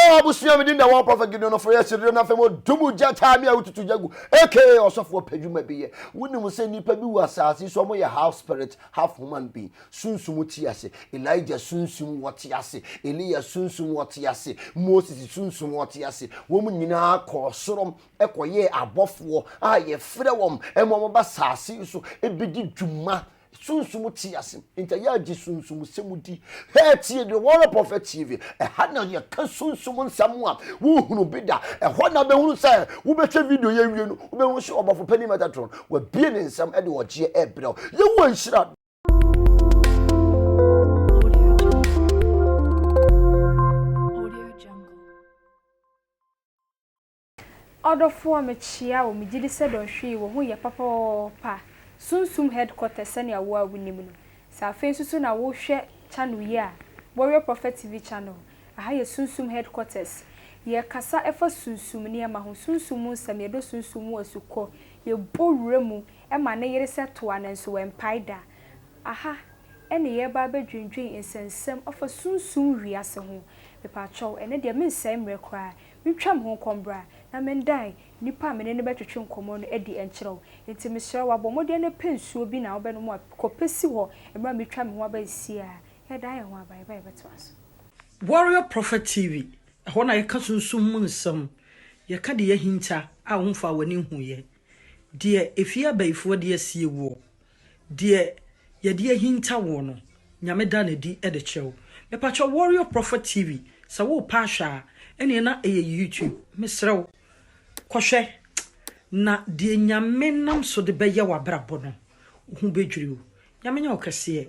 Yoab abusua me din da wɔn prɔfɛt Gideon no foroyɛ sirire no afei mo dum gya taa me a wotutu gya gu aka ɔsɔfoɔ pɛ dwuma bi yɛ wonim sɛ nnipa bi wɔ asase so ɔmo yɛ half spirit half human being sunsum te ase Elijah sunsum wɔte ase Elia sunsum wɔte ase Moses sunsum wɔte ase wɔn nyinaa kɔɔ soro ɛkɔyɛɛ abɔfoɔ a yɛfrɛ wɔn ɛma wɔn ba asase so ɛbɛdi dwuma Sunsum tse ase ntsi yɛagye sunsumsɛm dzi. Hɛɛ tsie The Wallop of a TV. Ɛha na yɛka sunsum nsɛm a wonnhunu bi da. Ɛhɔ na bɛhunu sɛ wobɛhwɛ video yi awie no, wobɛhunu sɛ Ɔbɔfo Panin Metatron wabue ne nsam de ɔgyeɛ rebrɛ wo. Yehowa nhyira. Ɔdɔfoɔ mekyea wo megye di sɛ dɔnhwee wo ho yɛ papapapa sunsum headquarters sɛnea wo a wonim no sɛ afei nso so na wohwɛ channel yi a Warrior Prophet TV channel aha yɛ sunsum headquarters yɛ kasa ɛfa sunsum nneɛma ho sunsum mu nsɛm yɛ dɔ sunsum mu asukɔ yɛ bɔ wura mu ɛma ne yere sɛ toa nanso wɛ mpae da aha ɛne yɛ ba abɛ dwindwin nsɛnsɛm afa sunsum wiase ho mepa kyɛw ɛnɛ deɛ me nsɛe mmerɛ koraa Metwaa me ho nkɔmbra, na menndan nyimpa a menye no bɛtwetwe nkɔmbɔ no adi nnkyerɛ wo. Ntsi meserɛ wo, bɔ mbɔden na pɛ nsuo bi na wobɛnom a, kɔpɛ si hɔ mbrɛ a metwaa me ho aba nsie a. Yɛda ayɛ ho aba, yɛba a yɛbɛtoa so. Warrior Prophet TV, ɛhɔ na yɛka sunsum mu nsɛm, yɛka deɛ yɛahinta a womfaa w'ani nhuiɛ, deɛ ɛfie abayifoɔ de asie woɔ, Deɛ yɛde ahinta woɔ no, Nyame da no adi de kyerɛ wo. Mepakyɛw Warrior Prophet TV, sɛ worepɛ ahwɛ a, ɛneɛ na ɛyɛ YouTube. Mesrɛ wo, kɔhwɛ, na deɛ Nyame nam so de bɛyɛ w'abrabɔ no, wo ho bɛdwiri wo. Nyame nyɛ wo kɛseɛ.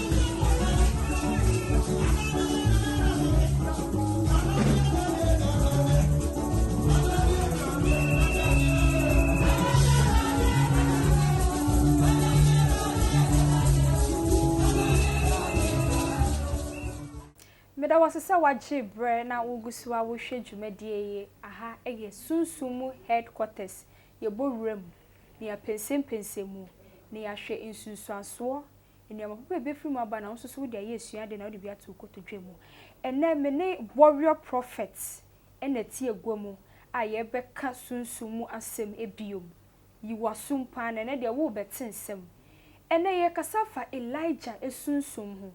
meda wo ase sɛ wagye berɛ na wogu so a wohwɛ dwumadie yi aha ɛyɛ sunsum mu headquarters yɛbɔ wura mu na yɛapɛnsɛmpɛnsɛ mu na yɛahwɛ nsunsuansoɔ Nneɛma pa pa bi bɛfiri mu aba na wo nso so wode ayɛ asuade na wode bi ato wo kotodwe mu. Ɛnnɛ me ne Warrior Prophet na te agua mu a yɛrebɛka sunsum mu asɛm bio. Yi w'asom paa na ɛnnɛ deɛ worebɛte nsɛm. Ɛnnɛ yɛrekasa afa Elijah sunsum ho.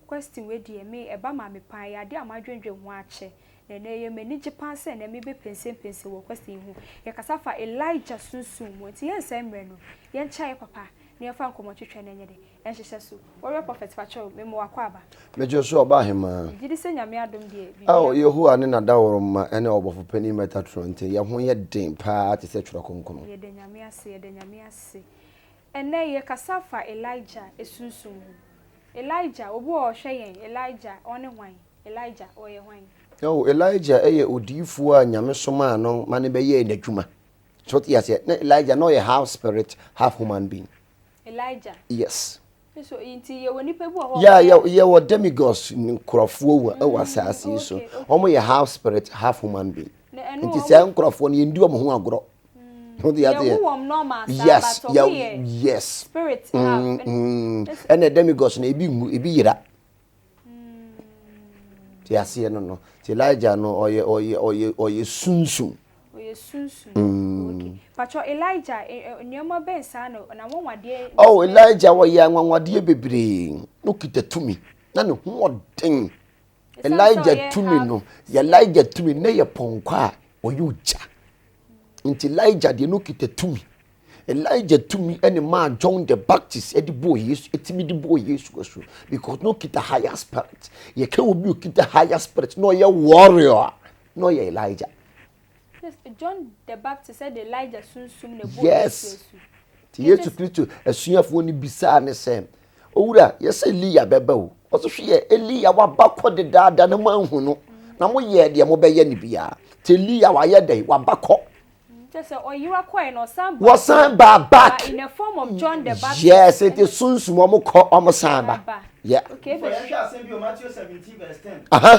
Question wei deɛ me ɛba maa me paa, ɛyɛ adeɛ a m'adwendwen ho akyɛ. Na ɛnnɛ, ɛyɛ me anigye pa ara sɛ ɛnnɛ merebɛpɛnsɛmpɛnsɛn wɔ ɔkwasea yi ho. Yɛkasa fa Elijah sunsum mu. Enti yɛnsɛe mmerɛ no, yɛnkyɛ ayɛ papa na yɛmfa nkɔmmɔtwetwɛ no nyɛ dɛ nhyehyɛ so. Warrior Prophet, fa kyɛw, mema wo akwaaba. Megyina so, Ɔba Ahemaa. Megye di sɛ Nyame adom deɛ, biribiara bɛkɔ. Ao Yehowa ne n'adaworoma ne ɔbɔfo panin Metatron nti, yɛn ho yɛ den pa ara te sɛ Twerɛ Kronkron. Yɛda Nyame ase, yɛda Nyame ase. Ɛnnɛ yɛkasa fa Elijah sunsum ho. Elijah, obi wɔ hɔ ɔhwɛ yɛn, Elijah, ɔne hwan? Elijah, ɔyɛ hwan? Oh, Elijah yɛ odiyifoɔ a Nyame somaa no ma no bɛyɛɛ N'adwuma. So wote aseɛ? Na Elijah, na ɔyɛ half spirit, half human being. Elijah? Yes. So nti yɛwɔ nnipa bi wɔ hɔ a wɔyɛ? Yeah, yɛwɔ demigods nkorɔfoɔ wɔ ɛwɔ asaase yi so. Wɔyɛ half spirit, half human being. Nti saa nkorɔfoɔ no, yɛndi wɔn ho agorɔ. yes yes spirit mm, mm. ɛna demigos no ebi nwu ebi yera te aseɛ no no te elijah no ɔyɛ ɔyɛ ɔyɛ ɔyɛ sunsun ɔyɛ sunsun mm. okay patro elijah e, e, nneɛma bɛn saa na na wɔnwadeɛ oh elijah ɔyɛ anwanwadeɛ bebree no kita tumi na ne ho ɔden Elijah tumi no yɛ Elijah tumi ne yɛ pɔnkɔ a ɔyɛ ogya nti Elijah deɛ no kita tumi Elijah tumi ne maa John the Baptist de bɔɔ Yesu tumi de bɔɔ Yesu asu because no kita higher spirit yɛka obi okita higher spirit na ɔyɛ warrior a na ɔyɛ Elijah Yes! Nti Yesu Kristo asuafoɔ no bisaa no sɛ, Owura, yɛse Elia bɛba o. Ɔse, Hweɛ, Elia waba kɔ dedaada na moanhu no, na moyɛɛ deɛ mobɛyɛ no biara. Nti Elia wayɛ dɛn? Waba kɔ. Wɔsan baa back. Yes, nti sunsum wɔn kɔ, wɔn san ba. Yeah. Aha.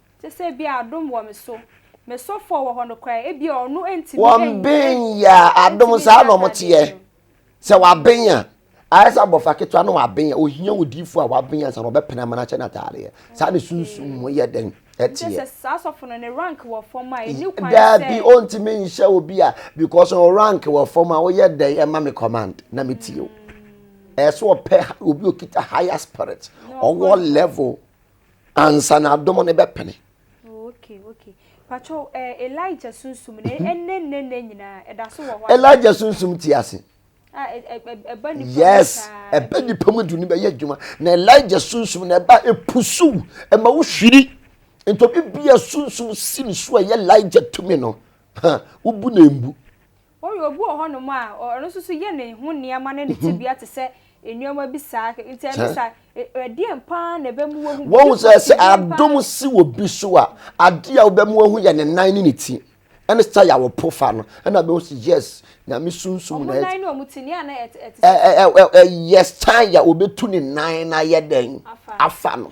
Te sɛ ebia adom wɔ me so. Me sɔfoɔ wɔ hɔ no koraa, ebia ɔno ntumi. Wɔben yɛ a, adom saa na wɔteɛ. Sɛ waben a, ayɛ sɛ abɔfra ketewa na waben a, ohia odiifo a waben ansa na ɔbɛpene ama no akyɛ n'atadeɛ. Saa na sunsum mu yɛ dɛn teɛ. Sɛ saa sɔfo no ne rank wɔ fam a, ɛni kwan sɛ. Daabi, ɔntumi nhyɛ obi a because ɔwɔ rank wɔ fam a, woyɛ dɛn ɛma me command na metie o. Ɛyɛ sɛ ɔpɛ obi a ɔkita higher spirit, ɔwɔ level. Ansa na adom no bɛpene. Oh, okay, okay. Pacho, eh, Elijah sunsum ne mhm. ene ne ne nyina eda so wɔ hɔ. Elijah sunsum ti ase. Ah, ɛba nipa yes, ɛba nipa mu dunu bɛyɛ adwuma. Na Elijah sunsum na ɛba epusu, ɛma wo hwiri. Nti obi bia sunsum si ne so a ɛyɛ Elijah tumi no. Ha, wobu na embu. Woyɛ obi wɔ hɔnom a, ɔno nso so yɛ ne ho nneɛma ne ne tebea te sɛ nneɛma bi saa. Nti ɛno saa, ɛdeɛn paa na ɛbɛmu wahu? Wɔn sɛ sɛ adom si wɔ bi so a, adeɛ a wobɛmu wahu yɛ ne nan ne ne ti ɛne sɛ yɛ awopo fa no ɛna bɛhu sɛ yes nyame sunsum na ɛyɛ. Wɔn ti ne ana ɛte sɛ. Ɛyɛ stan yɛ wɔbɛtu ne nan na yɛ dɛn afa no.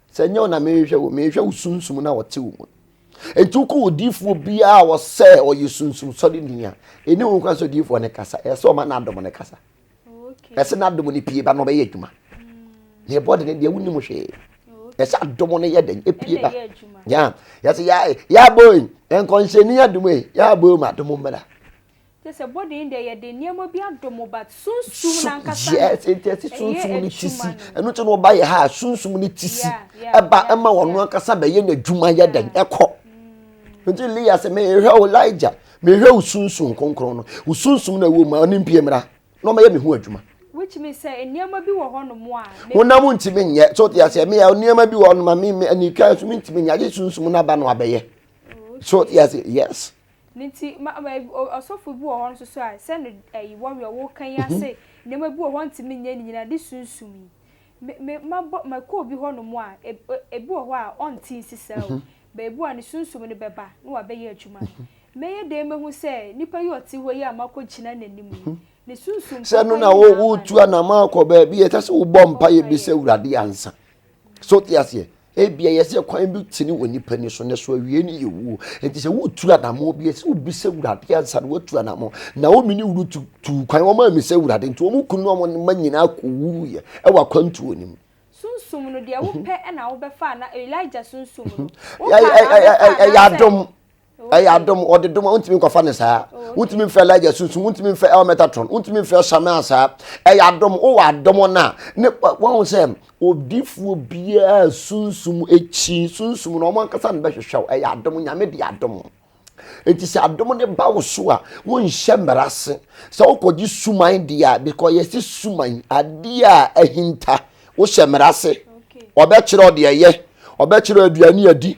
Sɛ nyɛ wo na mehwehwɛ wo, mehwehwɛ wo sunsum na ɔte wo mu. Enti wokɔ odiifoɔ biara a wɔsɛ ɔyɛ sunsum sɔre ni a, ɛni ho kwan sɛ odiifoɔ no kasa. Ɛsɛ ɔma n'adom no kasa. Ɛsɛ n'adom no pie ba na ɔbɛyɛ adwuma. Na ɛbɔ de no deɛ wonim hwee. Ɛsɛ adom no yɛ dɛn? Ɛpie ba. Yɛsɛ yɛabɔ yi, nkɔnhyɛni adom yi, yɛabɔ yi ma adom mmra. Te sɛ boden deɛ yɛde nneɛma bi adɔ mu but sunsum nankasa no ɛyɛ adwuma no. Ɛno nti na ɔba yɛ ha a sunsum no ti si ɛba ɛma wɔn ankasa bɛyɛ n'adwuma yɛ dɛn ɛkɔ. Nti Leah sɛ mehwɛ wo Elijah mehwɛ wo sunsum kronkron no wo sunsum na ɛwɔ mu a ɔne mpie mmra na ɔmɛyɛ me ho adwuma. Which means sɛ nneɛma bi wɔ hɔ nom a. Honam ntumi nyɛ so te aseɛ me a nneɛma bi wɔ hɔ nom a me me ani kan so mentumi nyɛ agye sunsum no aba na wabɛyɛ so te aseɛ yes. Ne nti, ma, ma, ɔsɔfo bi wɔ hɔ nso so a, sɛ no, ayi, wɔwe, wɔka yi ase, nneɛma bi wɔ hɔ ɔntumi nyɛ ne nyinaa, de sunsum yi. Me, me, mabɔ, makɔ obi hɔnom a, e, e, ebi wɔ hɔ a, ɔnte nsi saa o, baabu a ne sunsum no bɛba na wabɛyɛ adwuma no. Mɛyɛ dɛn mahu sɛ, nipa yi a ɔte hɔ yi a makɔ gyina n'anim yi, ne sunsum papa yi na ama no. Sɛ no na wo, wotu anamɔ akɔ baabi a, ɛsɛ sɛ wobɔ mpaeɛ bisa Awurade ansa. so te aseɛ ebia yɛsɛ kwan bi tene wɔ nipa ni so ne so awie ne yɛ wuo nti sɛ wotu anamɔ bi ɛsɛ wobi sɛ wurade ansa na wotu anamɔ na wɔn mini wuru tu tu kwan wɔn ami sɛ wurade nti wɔn kunu wɔn mma nyinaa kɔ wuru yɛ ɛwɔ akwantuo ne mu. sunsum no deɛ wopɛ ɛna wobɛfa na elijah sunsum no wopɛ anaa wopɛ anaa sɛ. ɛyɛ adom ɔde dom wontumi nkɔfa ne saa wontumi mfɛ laja sunsun wontumi mfɛ elmetatron wontumi mfɛ shamaa saa ɛyɛ adom wowɔ adom no a ne wɔn sɛ odifoɔ biara sunsum akyi sunsum no wɔn ankasa no bɛhwehwɛ ɛyɛ adom nyame de adom nti sɛ adom ne ba wo so a wonhyɛ mmara ase sɛ wokɔgye suman deɛ a bikɔ yɛsi suman adeɛ a ahinta wohyɛ mmara ase ɔbɛkyerɛ ɔde ɛyɛ ɔbɛkyerɛ aduane adi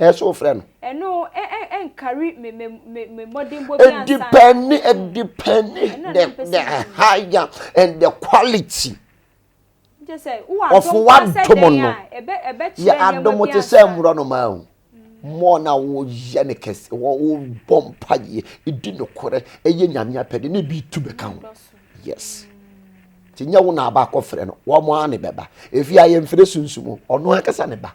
Ɛɛ so wofrɛ no. Ɛno ɛnkari me me me me mmɔdenbɔ bi ansa. Ɛdipɛni ɛdipɛni the the higher and the quality. Gye sɛ wo adom pa sɛ dɛn a ɛbɛ ɛbɛ kyerɛ nneɛma bi ansa. Yɛ adom te sɛ mmorɔnoma o. Mmɔ na wɔyɛ ne kɛse wɔbɔ mpa yie ɛdi nokorɛ ɛyɛ nyame apɛde ne bi tu bɛka ho. Yes. Nti nyɛ wo na aba akɔfrɛ no wɔn ara ne bɛba. Ɛfie a yɛmfrɛ sunsum o ɔno ankasa ne ba.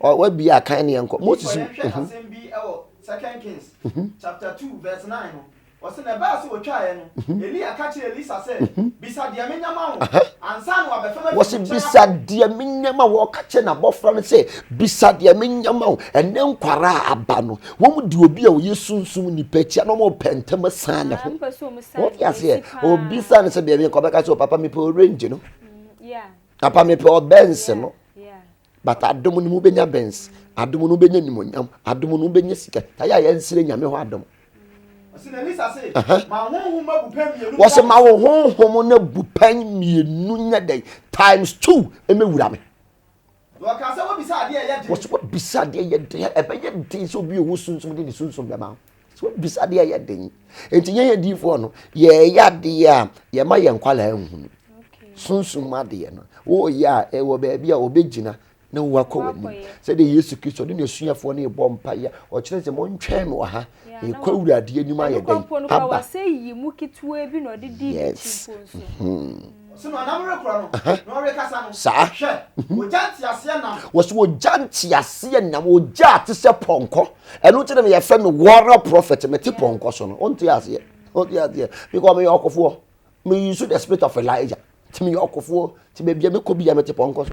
wabie a kan ne yɛn kɔ moses. yɛhwɛ mhm. asɛm bi wɔ second kings mhm. chapter two verse nine no ɔsɛ na ɛbaa sɛ wɔtwaeɛ no mhm. elia ka kyerɛ elisa sɛ bisa deɛ menya ma wo ansa na wabɛfa ma wɔsɛ bisa deɛ menya ma wo ɔka kyerɛ n'abɔfra no sɛ bisa deɛ menya ma wo ɛnɛ nkwara a aba no wɔn de obi a ɔyɛ sunsum nipa akyia na wɔn pɛ ntɛm asan ne ho wɔn fi aseɛ obisa no sɛ deɛ mekɔ bɛka sɛ papa mepɛ orange no mm, Papa mepɛ ɔbɛnse no but adom no mu bɛnya bɛnse adom no bɛnya nimonyam adom no bɛnya sika tayɛ a yɛnsrɛ nyame hɔ adom wɔsɛ ma wo honhom no abu pan mmienu nyɛ dɛn times two ɛmɛwura me wɔka sɛ wobisa adeɛ yɛ den wɔsɛ wobisa adeɛ yɛ den ɛbɛyɛ den sɛ obi ɔwɔ sunsum de ne sunsum bɛma wo So bisa deɛ yɛ den nti yɛn adiifoɔ no yɛyɛ adeɛ a yɛma yɛn nkwadaa nhunu sunsun mu adeɛ no wɔyɛ a ɛwɔ baabi a wɔbɛgyina na wakɔ w'anim sɛdeɛ yesu kristo ne n'asuafoɔ no ɛbɔ mpaeɛ ɔkyerɛ sɛ montwɛn no ha ɛkɔ awurade anim ayɛ dɛn aba yes mhm. Saa. Wɔsi ogya nteaseɛ nam ogya a te sɛ pɔnkɔ ɛno ti na yɛfɛ no wɔra prɔfɛt mɛ ti pɔnkɔ so no o nteaseɛ o nteaseɛ bikɔ mi yɛ ɔkɔfoɔ mi yi so the spirit of Elijah ti mi yɛ ɔkɔfoɔ ti bɛ bia mi kɔ bia mi ti pɔnkɔ so.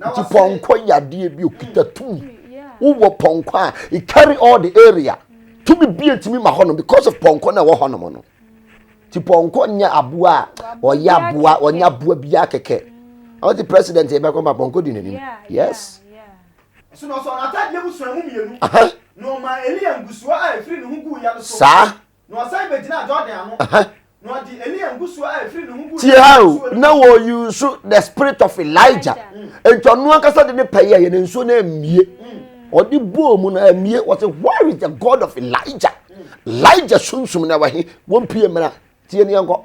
nti pɔnkɔ yɛ adeɛ bi okita tumi wowɔ pɔnkɔ a it carry all the area tumi bie ntumi ma hɔ no because of pɔnkɔ na ɛwɔ hɔ nom no ti pɔnkɔ nyɛ aboa a ɔyɛ aboa ɔnyɛ aboa biara kɛkɛ ɔn ti president yɛ bɛkɔ ma pɔnkɔ di n'anim yes. saa. Tie ha o, na wɔuse the spirit of Elijah. Nti ɔno ankasa de ne pɛ yɛ yɛ na nsuo no amie. Ɔde bɔɔ mu na amie. Wɔte where is the God of Elijah? Elijah sunsum na wahe? Wɔn pie mmra. Tie ne yɛnkɔ.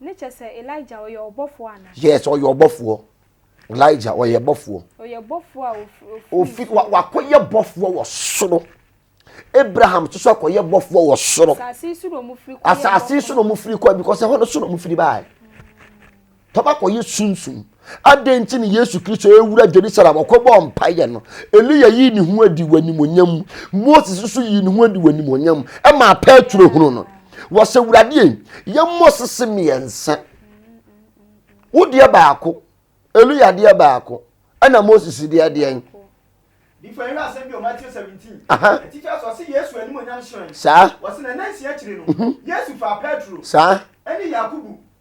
Ne kyɛ sɛ Elijah ɔyɛ ɔbɔfoɔ anaa? Yes ɔyɛ ɔbɔfoɔ. Elijah ɔyɛ bɔfoɔ. Ɔyɛ bɔfoɔ a ofiri. Ofiri wa wakɔyɛ bɔfoɔ wɔ soro. Abraham nso so akɔyɛ bɔfoɔ wɔ soro. Asase so na wɔn firi kɔ. Asase so na wɔn firi kɔ because ɛhɔ no so na wɔn firi baaɛ. Tɔba kɔyɛ sunsun. Adɛn nti na Yesu Kristo rewura Jerusalem ɔkɔbɔ mpaeɛ no? Elia yii ne ho adi wɔ animuonyam mu. Moses nso yii ne ho adi wɔ animuonyam mu. Ɛmaa Petro hunu no. Wɔsɛ wuradeɛ yɛmmɔ sese mmiɛnsa. Wo deɛ baako, Elia deɛ baako, ɛna Moses deɛ deɛn? Difo nhwɛ asɛm bi wɔ Matthew 17. Aha. Atifi ase ɔse Yesu animuonyam hyerɛn. Saa. Ɔse na nansia akyiri no, mhm. Yesu faa Petro. Saa. Ɛne Yakubu.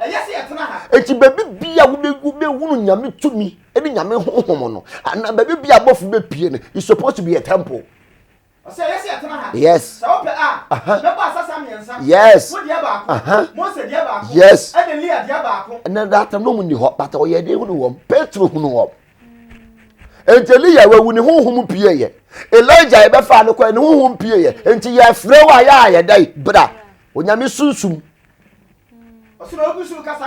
Ɛyɛ sɛ yɛtena ha. Enti baabi bi a wobɛhunu Nyame tumi ne Nyame honhom no, anaa baabi bi a abɔfo bɛpue no, is supposed to be a temple. Ɔsɛ ɛyɛ sɛ yɛtena ha. Yes. Sɛ wopɛ a, mɛbɔ asasa mmiɛnsa. Yes. Wo deɛ baako, Mose deɛ baako, yes, ɛna Elia deɛ baako. Na that time na wɔn nni hɔ, but ɔyɛ den hunu wɔn. Petro hunu wɔn. Enti Elia wawu ne honhom pie yɛ. Elijah yɛbɛfa no kɔɛ ne honhom pie yɛ. Enti yɛfrɛ wo a yɛ a yɛda yi bra. Onyame sunsum. ɔsoro ogu so kasa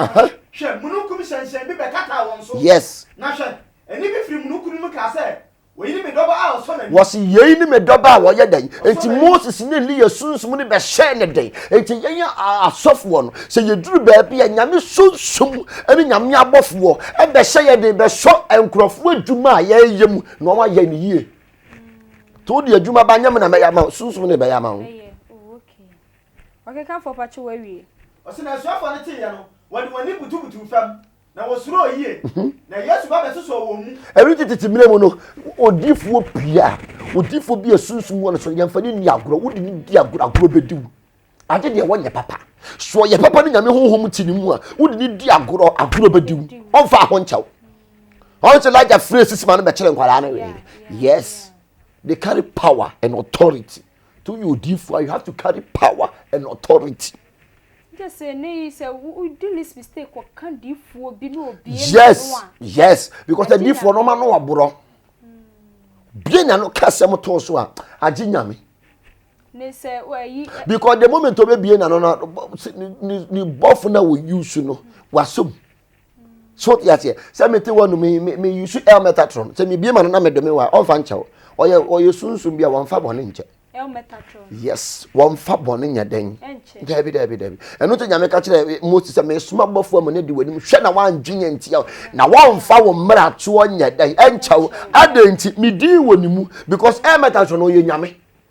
hwɛ mununkum hyɛnhyɛn bi bɛkataa wɔn so yes na hwɛ ɛne bi firi mununkum mu kaa sɛ wɔyi ne me dɔba a ɔsɔ n'ani wɔsi yei ne me dɔba a wɔyɛ dɛn eti moses ne eliya sunsun ne bɛhyɛ ne dɛn eti yɛn asɔfoɔ no sɛ yɛduru baabi a nyame sunsun ɛne nyame abɔfoɔ ɛbɛhyɛ yɛ den bɛsɔ nkurɔfoɔ adwuma a yɛyɛ mu na wɔn ayɛ ne yie to de adwuma ba nyɛ mu na mɛyɛ ama sunsun ne bɛyɛ ama ho. Ɔkekafoɔ fa kye w'awie. Ɔse na asuafoɔ no teeɛ no, wɔde wɔn ani butubutuu fam, na wɔsuroo yie, na Yesu ba bɛsosɔɔ wɔn mu. Ɛrekye tete mmerɛ mu no, odiyifoɔ pia, odiyifoɔ bi a sunsum wɔ no so no, yɛmfa no nni agorɔ, wode no di agorɔ, agorɔ bɛdi wo. Agye deɛ wɔnyɛ papa. So ɔyɛ papa no Nyame honhom te ne mu a, wode no di agorɔ, agorɔ bɛdi wo. Ɔmfa aho nkyɛ wo. Ɔn sɛ Elijah frɛ sisima no bɛkyerɛ nkwadaa no wee. Yes. They carry power and authority. To yɛ odiyifo a you have to carry power and authority. N kyɛ sɛ ɛnɛ yi sɛ wo di list mistake kɔ ka diyifoɔ bi na obie n'ano a. Yes yes because adiyifoɔ no ma no aborɔ. Bie n'ano ka asɛm too so a agye nyame. Ne sɛ ɛyi. Because the moment ɔbɛbie n'ano na ne bɔfo na wɔ use no wasɛm. so ti aseɛ sɛ mete hɔ no me me me yusu elmetatron sɛ mebie ma no na medome wɔ a ɔmfa nkyɛ wo ɔyɛ ɔyɛ sunsum bi a wɔmfa bɔne nkyɛ elmetatron yes wɔmfa bɔne nyɛ dɛn daabi daabi daabi ɛno nti nyame ka kyerɛ mose sɛ mesoma bɔfoɔ mu no de w'anim hwɛ na woandwe nyɛ ntia wo na wɔmfa wo mmaratoɔ nyɛ dɛn ɛnkyɛ wo adɛn nti medin wɔ ne mu because elmetatron ɔyɛ nyame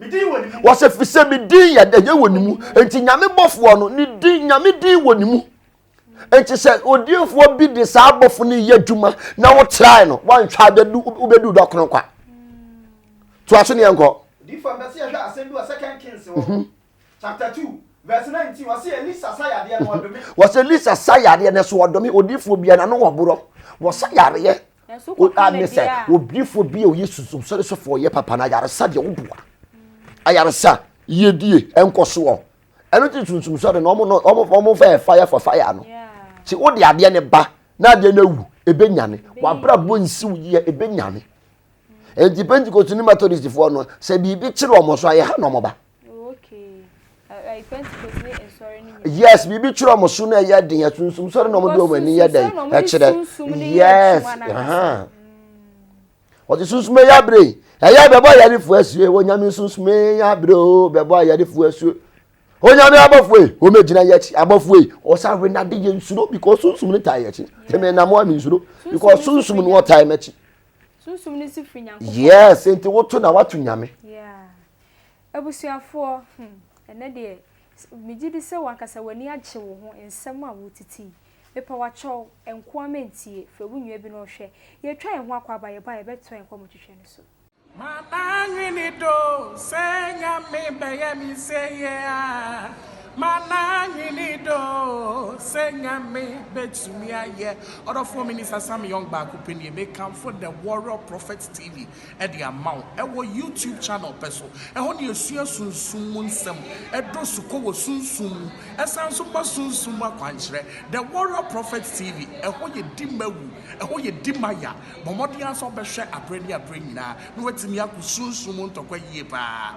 wɔsɛ firi sɛ me din yɛ dɛ yɛ wɔ ne mu nti nyame bɔfoɔ no ne din nyame din wɔ ne mu nti sɛ odiefoɔ bi de saa bɔfo no yɛ adwuma na wotrae no woantwa wobɛdu dɔ kono kwa to aso ne yɛnkɔ chapter two verse nineteen wɔsi elisa sa yadeɛ no ɔdome. wɔsi elisa sa yadeɛ no so ɔdome odiifoɔ bia n'ano wɔ borɔ wɔsa yareɛ sɛ obiefo bi a ɔyɛ sunsum sɔre sɔfo ɔyɛ papa na ayaresa deɛ woboa ayaresa yiedie nkɔsoɔ ɛno ti sunsum sɔre no ɔmo no ɔmo ɔmo fɛ fire for fire no ti wo de adeɛ ne ba na adeɛ no awu ebe nyane wabra bo nsiw yie ebe nyane nti pentikoti ne methodist foɔ no sɛ biribi kyerɛ ɔmo so ayɛ ha na ɔmo ba. yes biribi kyerɛ ɔmo so na ɛyɛ den ɛsunsum sɔre na ɔmo de ɔmo ani yɛ dɛ ɛkyerɛ yes ɔde sunsum yɛ abere ɛyɛ bɛbɔ ayarefo asue onyame sunsum yɛ abere o bɛbɔ ayarefo asue onyame abɔfo yi wɔn egyina yɛ akyi abɔfo yi ɔsan wɛ nade yɛ nsuro because sunsum ne taa yɛ akyi tɛmɛ na mo ami nsuro because sunsum ne ɔtaa yɛ akyi yes nti woto na wato nyame. Yeah. Abusuafoɔ, hmm, ɛnnɛ deɛ, megye di sɛ w'ankasa w'ani agye wo ho nsɛm a wotiti yi. Mepɛ w'akyɛw nkoa mentie, frɛ wo nua bi na ɔhwɛ. Yɛretwa yɛn ho akɔ aba, yɛba a yɛbɛtoa yɛn kɔm twetwe no so. Manadwene do sɛ Nyame bɛyɛ me sɛiɛ a, manadwene do sɛ Nyame bɛtumi ayɛ. Ɔdɔfoɔ Minister Sam Young baako pɛ nie, mekamfo The Warrior Prophet TV. de ama wo wɔ YouTube channel pɛ so. Ɛhɔ na yɛsua sunsum mu nsɛm, ɛdɔ sukɔ wɔ sunsum mu, ɛsan nso ma sunsum mu akwankyerɛ. The Warrior Prophet TV, ɛhɔ yɛ di ma wu, ɛhɔ yɛ di ma ya. Bɔ mmɔden ara sɛ wobɛhwɛ aberɛ ne aberɛ nyinaa na woatumi ako sunsum mu ntɔkwa yie paa.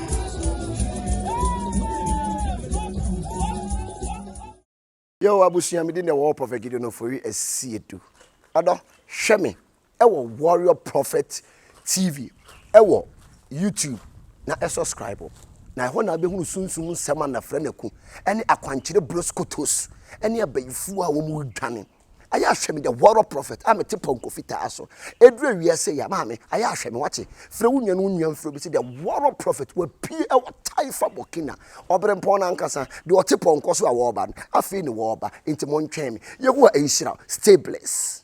yɛ wɔ abusua mi di na ɛwɔ prɔfɛt gidi no fori ɛsi edu ɔdɔ hwɛ mi ɛwɔ warrior prɔfɛt tv ɛwɔ youtube na ɛsɔskraibo na ɛhɔ na abɛhunu sunsum nsɛm a nafrɛ na ku ɛne akwankyerɛ bros kotos ɛne abayifuo a wɔn dwane. ayɛ ahwɛ me the world prophet a mete pɔnkɔ fitaa so ɛduru awia sɛ yɛ maame ayɛ ahwɛ me wate frɛ wo nua no wo nua mfrɛ bi sɛ the world prophet wapie ɛwɔ taifa burkina ɔbere mpɔn no ankasa deɛ ɔte pɔnkɔ so a wɔreba no afei ne wɔreba nti montwɛn me yehowa nhyira stay blessed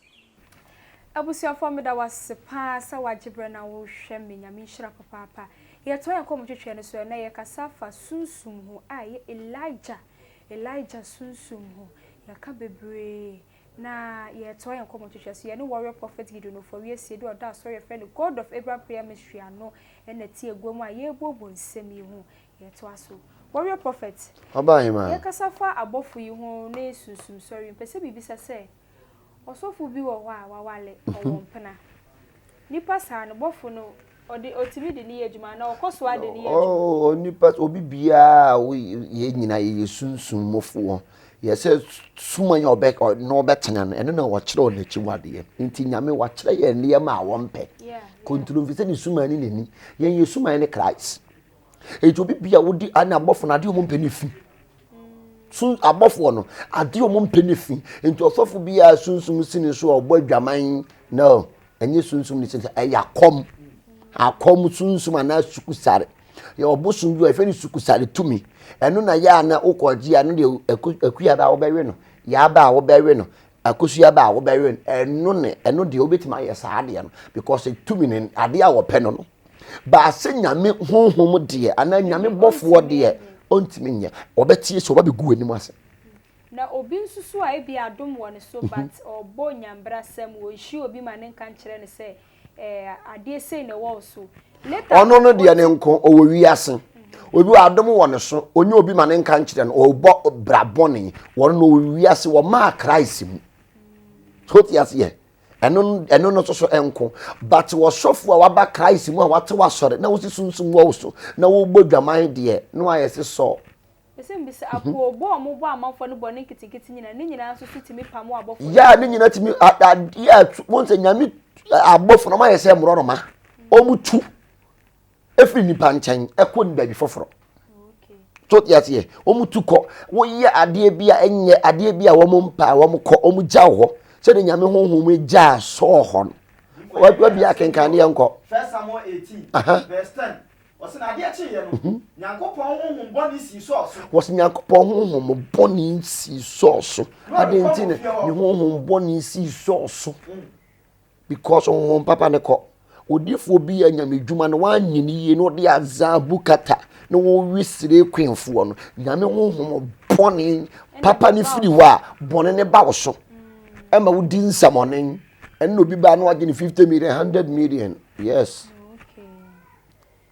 abusuafoɔ meda wase paa sɛ wagye berɛ na wohwɛ me nyame nhyira papaapa yɛtoa yɛn kɔmmɔtwetweɛ no so ɛnɛ yɛkasa fa sunsum ho a ɛyɛ elijah Elijah sunsum ho, yɛaka bebree na yɛtoa yɛn nkɔmmɔ twetwe so. Yɛne Warrior Prophet Gideon Oforu-Asie bi a ɔda asɔre a yɛfrɛ no God of Abraham Prayer Ministry ano na ɛte agua mu a yɛrebuobɔ nsɛm yi ho. Yɛtoa so. Warrior Prophet, yɛkasa fa abɔfo yi ho ne sunsum sɔre yi ho, mepɛ sɛ mibisa sɛ, Ɔsɔfo bi wɔ hɔ a wawale, ɔwɔ mpena. Nipa saa no, bɔfo no, ɔde otumi de ne yɛ adwuma na ɔkɔ so ade ne yɛ adwuma. Oh, oh, nipa, obi biara, yɛ nyina yɛyɛ sunsun mufoɔ. Yɛ sɛ suma yɛ ɔbɛ, na ɔbɛtena no, ɛno na wɔkyerɛ n'akyi wadeɛ. Nti nyame wakyerɛ yɛ nneɛma a wɔmpɛ. Kontromfi sɛ ne suman ne n'ani. Yɛn yɛ suman ne Christ. eti obi bi a wodi ana abɔfo na ade ɔmo mpɛ ne fi sun abɔfoɔ no ade ɔmo mpɛ ne fi nti ɔsɔfo bi a sunsun si ne so a ɔbɔ adwaman no ɛnyɛ sunsun ne si ne so ɛyɛ akɔm akɔm sunsun anaa sukusare yɛ ɔbosom bi a yɛfɛ ne sukusare tumi ɛno na yɛ a na wokɔ gye a no deɛ akua bɛ a wobɛwe no yaa bɛ a wobɛwe no akosua bɛ a wobɛwe no ɛno ne ɛno deɛ wobɛtumi ayɛ saa adeɛ no because tumi ne adeɛ a wɔpɛ no no baasɛ nyame honhom deɛ anaa nyame bɔfoɔ deɛ ɔntumi nyɛ ɔbɛtie sɛ ɔbɛbɛgu w'anim ase na obi nso so a ebi adom wɔ ne so mhm. but ɔbɔ nyambrasɛm ɔnhyia obi ma ne nka nkyerɛ no sɛ eh, adeɛ sei na ɛwɔ so ɔno no deɛ ne nko ɔwɔ wiase mhm. obi wɔ adom wɔ ne so ɔnyɛ obi ma ne nka nkyerɛ no ɔbɔ bra bɔne wɔn na ɔwɔ wiase wɔmaa christ mu so te aseɛ ɛno ɛno no nso so nko but wɔsɔfo a waba christ mu a wate wasɔre na wosi sunsun wɔ wo so na wobɔ dwaman deɛ na wayɛ se sɔɔ Mese mbisa mhm. apo bɔ a wɔbɔ amanfoɔ no bɔne nketenkete nyinaa ne nyinaa nso so tumi pam wɔ abɔfoɔ no. Yaa ne nyinaa tumi adeɛ a wɔn sɛ nyame abɔfoɔ no wɔayɛ sɛ mmorɔnoma wɔn tu efiri nipa nkyɛn ɛkɔ ni baabi foforɔ so te aseɛ wɔn tu kɔ wɔyɛ adeɛ bi a ɛnyɛ adeɛ bi a wɔn mpa a wɔn kɔ wɔn gya wɔ hɔ sɛde nyame honhom gya sɔɔ hɔ no wabi akenkan deɛ nkɔ. first samuel eighteen verse ten wɔsi na adeɛ kyeeɛ no mhm. nyankopɔn honhom bɔne sii sɔɔ so wɔsi nyankopɔn honhom bɔne sii sɔɔ so adeɛ nti na ne honhom bɔne sii sɔɔ so. Mm. Because honhom papa no kɔ. Odifoɔ bi yɛ nyame dwuma no wanyɛ ne yie na ɔde azaabu kata na wɔwi sire kwenfoɔ no. Nyame honhom bɔne papa no firi hɔ a bɔne ne ba wo so. Ɛma mm. wodi nsɛmɔne. Ɛnna obi baa na wagye ne 50 million, 100 million. Yes.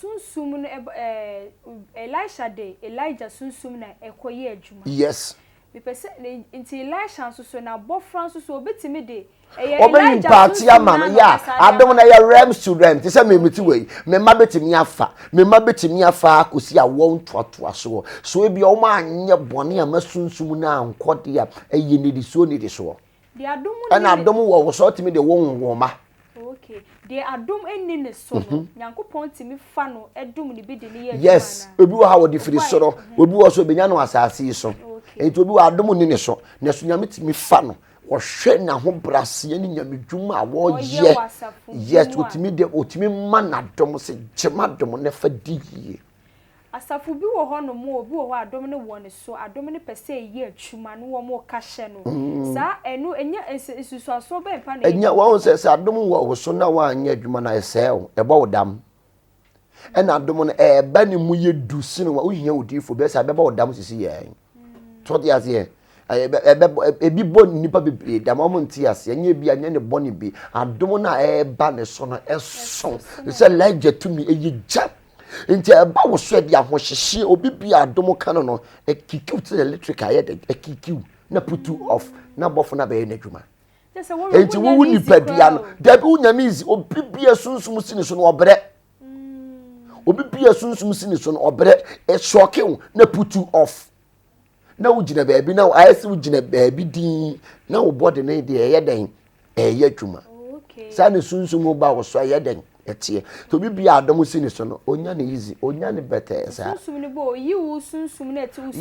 Sunsum no ɛb ɛɛ Elisha de Elijah sunsum na ɛkɔ yɛ adwuma. Yes. Mepɛ sɛ ne nti Elisha nso so n'abɔfra nso so obetumi de ɛyɛ Elijah sunsum na no yeah. kasa de Adom ama na no. ɛyɛ realms to realms te sɛ me mete Okay. wei me mma betumi afa me mma betumi afa akɔsi awoɔ ntoatoasoɔ so ebia wɔn anyɛ bɔne a masunsum no ankɔ deɛ a ɛyɛ nnidisoɔ nnidisoɔ. Deɛ adom nni ne. Ɛna adom wɔ wo so a wotumi de wo wo mma. Ok, deɛ adom nni ne so no, Nyankopɔn tumi fa no dom ne bi de ne yɛ adwuma anaa? Yes, obi wɔ hɔ a wɔde firi soro, obi wɔ hɔ nso obenya no wɔ asase yi so. Enti obi wɔ hɔ a adom nni ne so, nanso Nyame tumi fa no, wɔhwɛ n'ahobraseɛ ne Nyamedwuma a wɔyɛ. Ɔyɛ wɔ asafo bi mu a. Yes, otumi de, otumi ma n'adom sɛ gye m'adom na fa di yie. Asafo bi wɔ hɔ nom o, obi wɔ hɔ a adom no wɔ ne so, adom no pɛ sɛ ɛyɛ atwuma no wɔn ka hyɛ no saa, ɛno ɛnyɛ nse nsusuasoɔ bɛn pa na ɛnya. Wahu sɛ sɛ adom wɔ wo so na woanyɛ adwuma no a ɛsɛe wo, ɛbɔ wo dam. Ɛna adom no ɛɛba ne mu yɛ du sene wo a wohia odiyifo bi a ɛsɛ a ɛbɛbɔ wo dam sisi yɛn. so ɔte aseɛ ebi bɔ nnipa bebree dam ɔmo nte aseɛ nye bi anyɛ ne bɔ ne bi adom no a ɛreba ne so no ɛso sɛ lagya tumi ɛyɛ gya nti ɛba wo so ɛde ahohyehye obi bi adom ka no no ɛkikiw te sɛ electric ayɛ de ɛkikiw na putu off na bɔfo no abɛyɛ n'adwuma nti wowu nipadua no dabi wonya ne nsi obi bi a sunsum si ne so no ɔbrɛ obi bia sunsum si ne so no ɔbrɛ ɛsɔke wo na put you off na wogyina baabi na ayɛ sɛ wogyina baabi din na wo bɔde no deɛ ɛyɛ dɛn ɛyɛ adwuma saa ne sunsum wo ba wo so ɛyɛ dɛn ɛteɛ nti obi bia adɔm si ne so no ɔnya ne yizi ɔnya ne bɛtɛɛ saa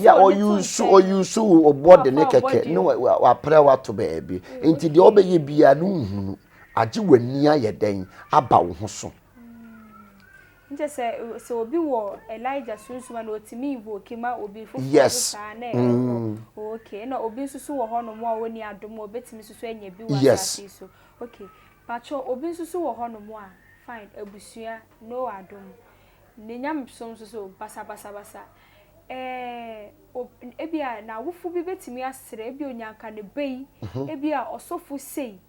yɛ ɔyusu ɔyusu wo bɔde ne kɛkɛ ne waprɛ wato baabi nti deɛ ɔbɛyɛ bia no nhunu agye w'ani ayɛ dɛn aba wo ho so. Nkyɛ sɛ sɛ obi wɔ Elijah sunsum a na otumi invoke ma obi foforɔ yes. so saa na ɛkɔ. Mm. Oh, okay. Na obi nso so wɔ hɔnom a ɔni adom a obetumi nso so anya bi wɔ yes. asase so. Okay. Patro, obi nso so wɔ hɔnom a fine, abusua, no adom. Ne nyamesom nso so basabasabasa. Eh, ebi a n'awofo bi betumi asrɛ, ebi onyanka ne bɛyi, mhm. ebi a ɔsɔfo sei.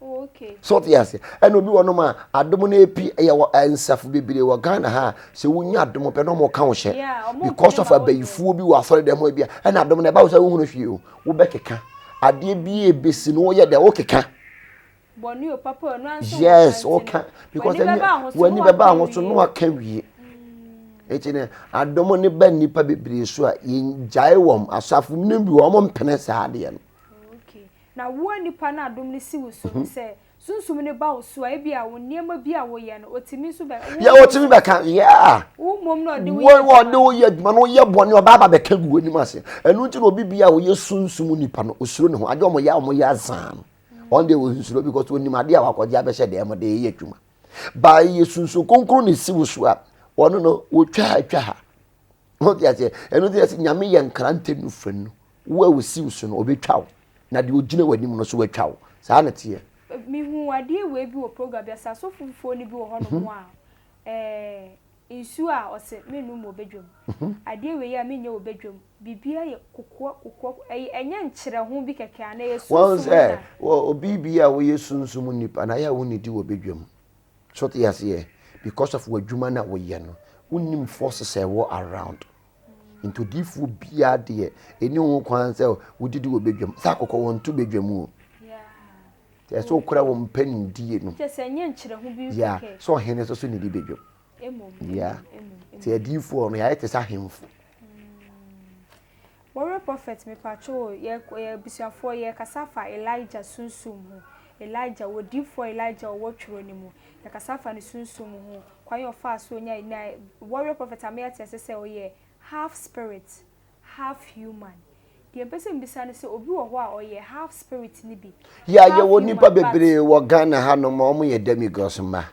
Oh, okay. So ɔte ase. Ɛna obi wɔ nom a adom no epi ɛyɛ wɔ nsafo bebree wɔ Ghana ha a sɛ wonya adom pɛ na wɔn ka wo hyɛ. Yeah, ɔmo Because of abayifuo bi wɔ asɔre dɛm hɔ bi a ɛna adom no ɛba wo sɛ wohunu hwee o wobɛkeka adeɛ bi a ebesi no woyɛ dɛ wokeka. Bɔne o papa o, ɛno ara nso Yes wɔn woka nti no. because W'ani ɛnyɛ bɛba ahosuo w'ani na bɛba waka ahosuo no wie. waka wie. Eti no adom no ba nnipa bebree so a yɛngyae wɔn asafo mu no bi wɔ hɔ, wɔn mpene saa adeɛ no. Ok. Na woa nipa no a dom no si wo so no sɛ sunsum no ba wo so a ebia wo nneɛma bi a woyɛ no otimi nso bɛ. Yɛ otimi bɛka yeah. Wo mmom na ɔde wo yɛ adwuma. Ɔde wo yɛ adwuma no yɛ bɔne ɔba aba bɛka gu w'anim ase. Ɛno nti na obi bi a ɔyɛ sunsum nipa no osuro ne ho ade ɔmo yɛ a ɔmo yɛ azaa no. Ɔno deɛ onsuro because onim ade a wakɔgye abɛhyɛ dɛm mo de yɛ adwuma. Baa yɛ sunsum kronkron na esi wo so a ɔno no otwa ha twa ha. Wọ́n ti aseɛ. Ẹnu ti ẹsẹ Nyame yẹ nkrante no firi no. Wo a osi wo so no, obetwa wo. Na deɛ ogyina w'anim no nso, watwa wo. Saa na ɛteɛ. Me hu adeɛ wei bi wɔ program bi ase, asɔfo fufuo no bi wɔ hɔ no mo a, eh, nsuo a ɔse me nnom wɔ badwam, adeɛ wei a me nyɛ wɔ badwam, biribiara yɛ kokoa, kokoa, ɛyɛ, ɛnyɛ nkyerɛ ho bi kɛkɛ anaa ɛyɛ sunsum na. Wɔn sɛ, obi bi a wɔyɛ sunsum nipa na yɛ a wɔn nidi wɔ badwam. So wote aseɛ? Because of w'adwuma na woyɛ no, wonnim forces a ɛwɔ around. Nti odiifoɔ biara deɛ, ɛni ho kwan sɛ wodidi wɔ badwam. Sɛ akokɔ wɔn to badwam o. Sɛ so wokora wɔn mpɛ nimdie no. Kyɛ sɛ ɛnyɛ nkyerɛho bi kɛkɛ. Yeah, so ɔhene nso so nidi badwam. Yeah. Sɛ adiifoɔ no, yɛayɛ te sɛ ahemfo. Warrior prophet mepatwa o yɛ yɛ abusuafoɔ yɛ kasa fa Elijah sunsum ho Elijah wɔ diifoɔ Elijah ɔwɔ twerɛ no mu yɛ kasa fa ne sunsum ho kwan yɛ ɔfaa so nya na warrior prophet ame ate ase sɛ ɔyɛ half spirit half human deɛ mpɛ sɛ mbisa no sɛ obi wɔ hɔ a ɔyɛ half spirit no bi yɛ yɛ wɔ nipa bebree wɔ Ghana ha nom ɔmo yɛ demigods mma.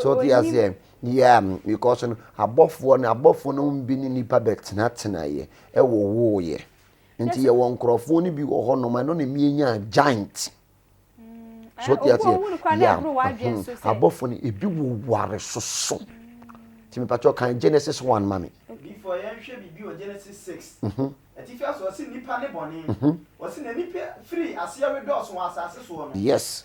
so ɔte aseɛ yeah because no abɔfoɔ no abɔfoɔ no bi ne nipa bɛtenatenaeɛ ɛwɔ wooyɛ nti yɛwɔ nkurɔfoɔ no bi wɔ hɔ nom ɛno na mmienya giant mm, eh, so ɔte aseɛ yeah hmm. abɔfoɔ no ebi wɔ ware soso nti mm. mepatwɛ kan genesis one ma me before yɛnhwɛ biribi wɔ genesis six mhm. atifi aso ɔsi nipa ne bɔne mhm. ɔsi na nipa firi aseɛ redɔɔso wɔ asase soɔ no yes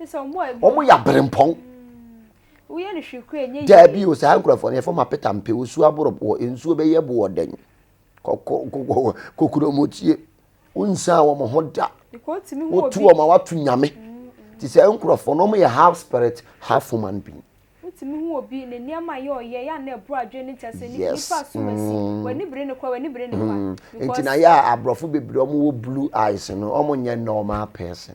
wɔyɛ aberempɔn mm. daabi o saa nkurɔfoɔ no yɛfɔma peta mpɛ osuo aborɔboɔ nsuo bɛyɛ boɔ dɛn kokuromɔtie wonsaa wɔn ho da wotu wɔn a wato nyame mm. te sɛ nkurɔfoɔ no wɔyɛ half spirit half human being wotumi hu obi ne nneɛma a yɛɔyɛ yɛ ana ɛboro adwene ne nkyɛ sɛ nipa so masi mm. w'ani bere ne kɔ w'ani bere ne fa mm. nti na yɛ a aborɔfo bebree wɔn wɔ blue eyes no wɔn nyɛ normal person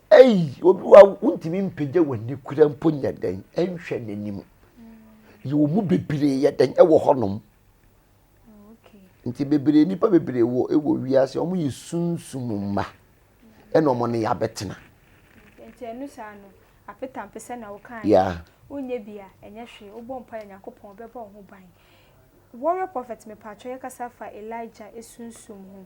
Ei, obi wɔ a wontumi mpagya w'ani kura mpo nyɛ dɛn nhwɛ n'anim. Yɛwɔ mu bebree yɛ dɛn wɔ hɔnom. Nti bebree nipa bebree wɔ wɔ wiase wɔn yɛ sunsum mma ɛna wɔn ne yɛabɛtena. Nti ɛno saa no apetampe sɛ na wokaa yɛ. Wonyɛ bi a ɛnyɛ hwee wobɔ mpa yɛ Nyankopɔn ɔbɛbɔ wo ho ban. Warrior Prophet mepatwɔ yɛ kasa fa Elijah sunsum ho.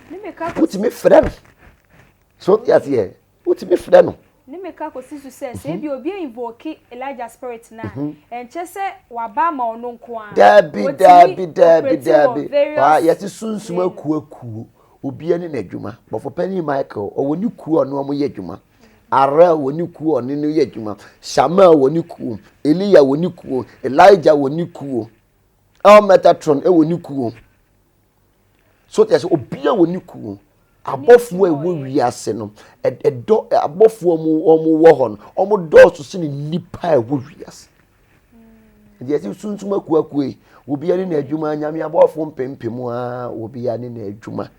wotumi frɛ no so te aseɛ wotumi frɛ no ne meka kɔsi so sɛ sɛ ebi obi invoke elijah spirit na ɛnkyɛ sɛ waba ama ɔno nko a daabi daabi daabi daabi waa yɛte sunsum akuakuo obia ne n'adwuma bɔfo panyin michael ɔwɔ ne kuo ɔne ɔmo yɛ adwuma ara wɔ ne kuo ɔne no yɛ adwuma shama wɔ ne kuo eliya wɔ ne kuo elijah wɔ ne kuo elmetatron wɔ ne kuo so kyerɛ sɛ obiara wɔ ne kuo abɔfoɔ a ɛwɔ wiase no ɛdɔ abɔfoɔ wɔn wɔ hɔ no wɔn dɔɔso sene nnipa a ɛwɔ wiase nti yɛsi sunsun akuakuo yi obiara ne n'adwuma nyame abɔfoɔ mpempem a obiara ne n'adwuma.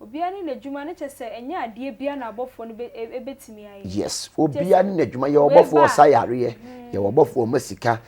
obiara ne n'adwuma ne kyɛ sɛ ɛnyɛ adeɛ biara na abɔfoɔ no ebetumi ayɛ. yes obiara ne n'adwuma yɛ ɔbɔfoɔ ɔsa yareɛ hmm. yɛ ɔbɔfoɔ ɔma sika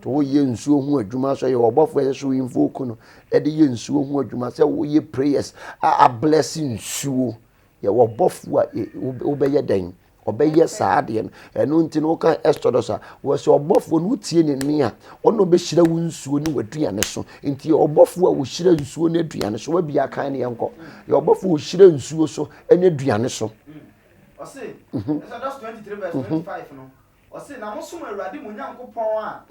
nti woyɛ nsuo ho adwuma so yɛ ɔbɔfo ɛsɛ so invoke no ɛde yɛ nsuo ho adwuma sɛ woyɛ prayers a abless nsuo yɛ ɔbɔfo a wobɛyɛ dɛn ɔbɛyɛ saa adeɛ no ɛno nti no woka exodus a wɔsɛ ɔbɔfoɔ no wotie ne nne a ɔno ɔbɛhyira wo nsuo ne w'aduane so nti ɔbɔfoɔ a wɔhyira nsuo ne aduane so wabi aka ne yɛnkɔ yɛ ɔbɔfoɔ a wɔhyira nsuo so ne aduane so mm. ɔse mhm. exodus 23 verse 25 mhm. no Ɔse, na mosom Awurade mo Nyankopɔn a,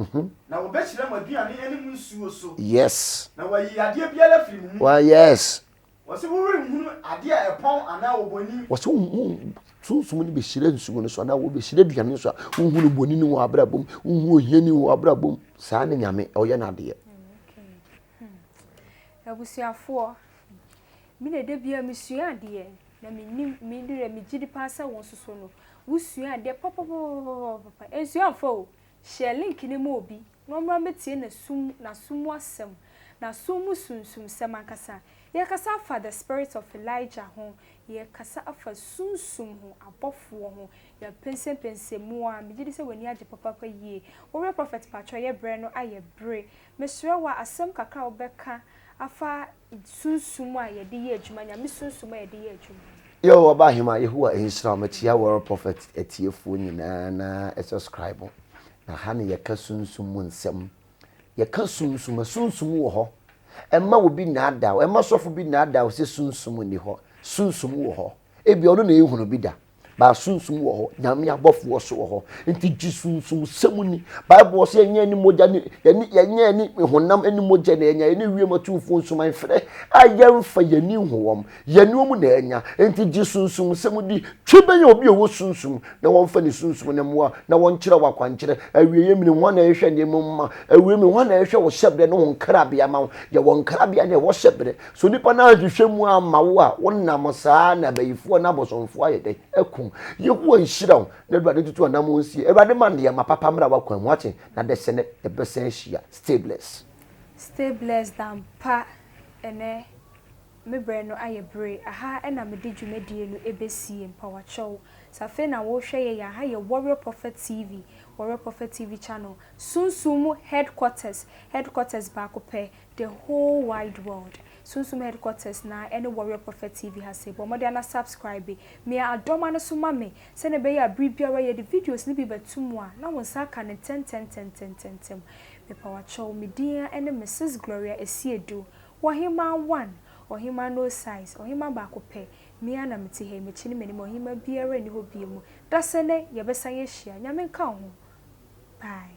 na wɔbɛhyira mo aduane ne mo nsuo so. Yes. Na wɔayi yadeɛ biara afiri mo mu. Wɔn, yes. Ɔse, worenhunu adeɛ a ɛpɔn anaa ɔbɔni. Ɔse, wo, wo, sunsum no bɛhyira nsuo no so anaa wɔbɛhyira aduane no so a, wohunu bɔni ni wɔ abrabɔ mu, wohunu ohiani wɔ abrabɔ mu. Saa ne Nyame, ɔyɛ n'adeɛ. Abusuafoɔ. Me na da biara mesua adeɛ na menim me deɛ megyedi paa sɛ wo nso so no wosua adeɛ papapapapapapa ɛnsua mfa o hyɛ link no ma obi na ɔmmra mmɛtie n'asum n'aso mu asɛm n'aso mu sunsumsɛm ankasa yɛkasa afa the spirit of Elijah ho yɛkasa afa sunsum ho abɔfoɔ ho yɛapɛnsɛmpɛnsɛ mu a megyedi sɛ w'ani agye papapa yie wowerɛ prophet paatwɔ yɛ berɛ no ayɛ bere mesrɛ wo a asɛm kakra a wobɛka afa Sunsum a yɛde yɛ adwuma, Nyame sunsum a yɛde yɛ adwuma. Yo ɔba hema Yehowa nhyira wo mekyia world prophet atiefoɔ nyinaa na ɛsɛscribe na ha ne yɛka sunsum mu nsɛm yɛka sunsum a sunsum wɔ hɔ ɛma obi nnaadaw ɛma sɔfo bi nnaadaw sɛ sunsum nni hɔ sunsum wɔ hɔ ebia ɔno na ehunu bi da Ba sunsum wɔ hɔ, Nyame abɔfoɔ so wɔ hɔ. Nti gye sunsum sɛm ni. Bible wɔ sɛ yɛnyɛ ne mogya ne yɛne yɛnyɛ ne honam ne mogya na yɛnya yɛne wiem atumfoɔ nsuman frɛ a yɛmfa yɛni ho wɔn. Yɛne wɔn na yɛnya. Nti gye sunsum sɛm di. Twi bɛyɛ obi a ɔwɔ sunsum na wɔmfa ne sunsum no mmoa na wɔnkyerɛ wo akwankyerɛ. Awieeɛ mene hwan na ɛhwɛ nneɛma mu ma? Awieeɛ mene hwan na ɛhwɛ wo hyɛbrɛ ne wo nkrabea ma wo? Yɛwɔ nkrabea na ɛwɔ hyɛbrɛ. So nnipa no anhwehwɛ mu amma wo a wonam saa nnabaifoɔ ne abosomfoɔ ayɛ dɛn? Aku. Yehowa nhyira wo na Awurade tutu w'anammɔn nsie. Awurade ma nneɛma papa mmra w'akwan mu ate na desene bɛsan ahyia. Stay blessed. Stay blessed ampa ɛnɛ me brɛ no ayɛ bere aha na mede dwumadie no ɛbɛsie mpawakyɛw sɛ afei na wohwɛ yɛ yɛ aha yɛ warrior prophet TV warrior prophet TV channel sunsum mu headquarters headquarters baako pɛ The whole wide world sunsum headquarters na ɛne warrior prophet TV ha sei bɔ mmɔden na subscribe be mia adɔma no so ma me sɛnea ɛbɛyɛ a bere biara yɛde videos no bi bɛto mu a na wo nsa aka no ntɛntɛntɛntɛntɛntɛm mepa wa kyɛw me din ara ne Mrs Gloria Asiedu Ɔhemaa one Ɔhemaa no size Ɔhemaa baako pɛ me ara na me te ha yi m'akyi ne m'anim Ɔhemaa biara nni hɔ bio mu dasɛ nɛ yɛbɛsan ahyia Nyame nka wo ho bye.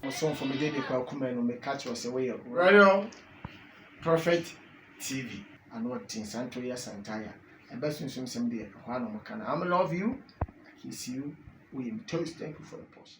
Wo somfo mede de kɔ akuma no meka kyerɛ wo sɛ woyɛ Royal Prophet TV. Ano ɔden santo yɛ santaya ɛbɛ sunsum sɛm deɛ ɛhɔ a na ɔmo ka no am love you I kiss you woyɛ me toast thank you for the post.